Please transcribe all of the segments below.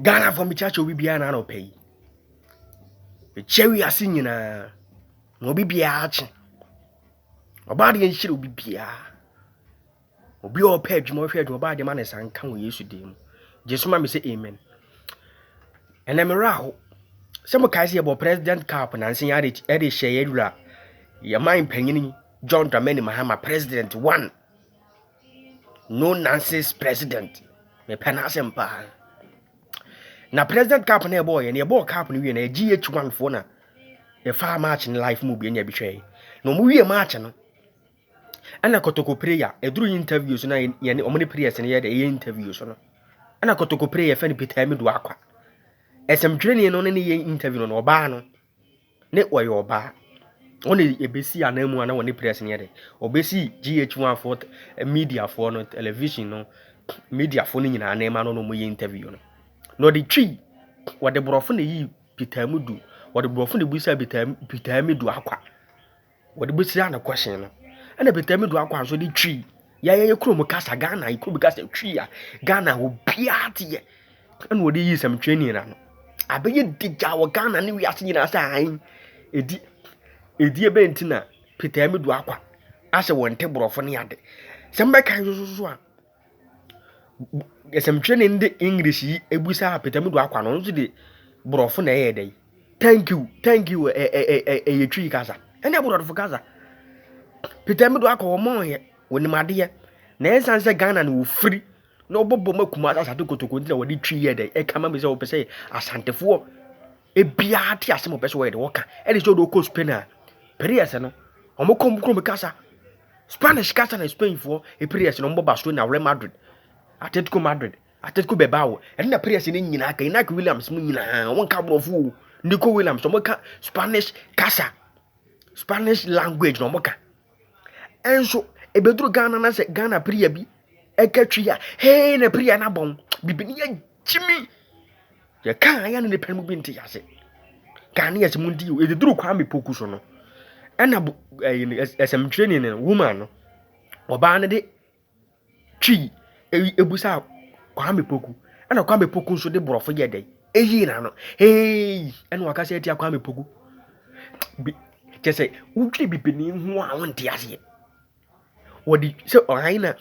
Ghanafoɔ mekyerɛ akyɛ obi biara n'anɔpa yi ɛkyɛ wiase nyinaa na obi biara akye ɔbaa deɛ nhyira obi biara obi a ɔpɛ adwuma ɔhwɛ adwuma ɔbaa deɛ ma ne nsa nka wɔ yesu din mu gye so ma me sɛ amen ɛnɛ mmerɛ aho sɛ mokae sɛ yɛbɔ president cap nanse yɛade ɛde hyɛ yɛwura yɛman panyini john dramani mahama president one No nonsense president. Me pɛ n'asɛm paa. Na president cup na ɛbɔɔ yɛ na ɛbɔɔ cup no wie na GH1 foɔ na ɛfaa match no life mu bi na ɛbi hwɛɛ na wɔn wie match no ɛna kotoko prayer ɛduru yi interview so na yɛne wɔn ne prayers no yɛ dɛ ɛyɛ interview so no ɛna kotoko prayer fɛn no Peter Amidu akwa ɛsɛmtwerɛni no ne ne yɛ interview no na ɔbaa no Ne ɔyɛ ɔbaa. Ɔna ebesii anan mu ana wɔne press no yɛ dɛ. Ɔbesii GH one foɔ media foɔ no television no media foɔ no nyinaa anan mu ana ɔne ɔmo yɛ interview no. Na ɔde twii ɔde brɔfo na eyii Peter Amudu ɔde brɔfo na ebisaa Peter Amudu akwa. wɔde bɛhyia no question no ɛna Bɛtami do akɔ anso de twi yɛyɛ yɛ kurom kasa Ghana yɛ kurom kasa twi a Ghana obiara te yɛ ɛna wɔde yi sɛm twi ni na no abɛyɛ digya wɔ Ghana ne wiase nyinaa sɛ ahen ɛdi ɛdi ɛbɛn ti na Bɛtami do akɔ asɛ wɔn te borɔfo ne ade sɛm bɛka nso so a Nsɛmtwerɛni no de English yi bisaa Pɛtɛm Du Akwa no, ɔno nso de Borɔfo na ɛyɛɛ dɛn? Thank you, thank you, ɛ ɛ ɛ ɛ ɛyɛ Twi kasa, ɛnyɛ Borɔfo kasa. Pɛtɛm Du Akwa wɔn ɔyɛ, wɔnim adeɛ. Na ɛnsan sɛ Ghana na wɔfiri na wɔbɔ bɔ ma Kumasi Asante Kotoko nti na wɔde Twi yɛɛ dɛn? Ɛka ma me sɛ wɔpɛ sɛ Asantefoɔ Ebiaa te asem ɔpɛ sɛ ɔyɛ de ɔka ɛde sɛ ɔde ɔkɔ Spain a pere yɛ sɛ no ɔmo kɔ ɔmo kurom kasa Spanish kasa na Spain foɔ epere yɛ sɛ no ɔmo bɔ Barcelona Real Madrid Atletico Madrid Atletico Bilbao ɛne na pere yɛ sɛ ne nyinaa ka Inaki Williams mo nyinaa ɔmo nka aborɔfo o Nico Williams ɔmo ka Spanish kasa Spanish language na ɔmo ka Nso ebeduru Ghana na sɛ Ghana pria bi ɛka twi a hee na pria no abɔn bibi ne yɛgyimi yɛka ayɛ no nipa mu bi nte ase Ghanaians mu nti ebeduru Kwame Poku so no ɛna ɛsɛmtwerɛni no woman no ɔbaa no de Twi eyi ebusaa Kwame Poku, ɛna Kwame Poku nso de borɔfo yɛɛ dɛn? Eyii n'ano. Heeii! Ɛna ɔakasa etsia Kwame Poku. Bi kyerɛ sɛ wodwen bibinii ho a wonntse aseɛ. Wɔde sɛ ɔhan na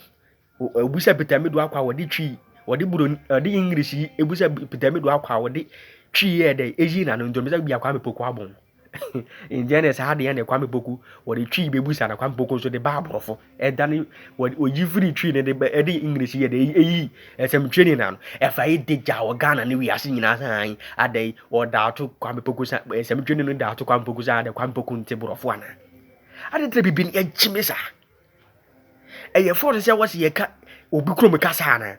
obusa Peter Medu Akwa a wɔde Twi, wɔde Buroni, wɔde English yi ebusa Peter Medu Akwa a wɔde Twi yɛɛ dɛn? Eyii n'ano. Nti ɔmmisa bi a Kwame Poku abɔ ho. Nnyɛ ne saa deɛ ne Kwame Poku wɔde Twi bɛbusa na Kwame Poku nso de ba aborɔfo ɛdane wɔde oyi firi Twi ne de bɛ ɛde English yɛ de eyi ɛsɛmtwe ne na no ɛfa yi de gya wɔ Ghana ne wiase nyinaa san ada yi ɔda ato Kwame Poku san ɛsɛmtwe ne no da ato Kwame Poku san ada Kwame Poku nte borɔfo ana adetere bibi ne ɛgye me saa ɛyɛ fɔɔte sɛ wɔsi yɛka obi kurom kasa ana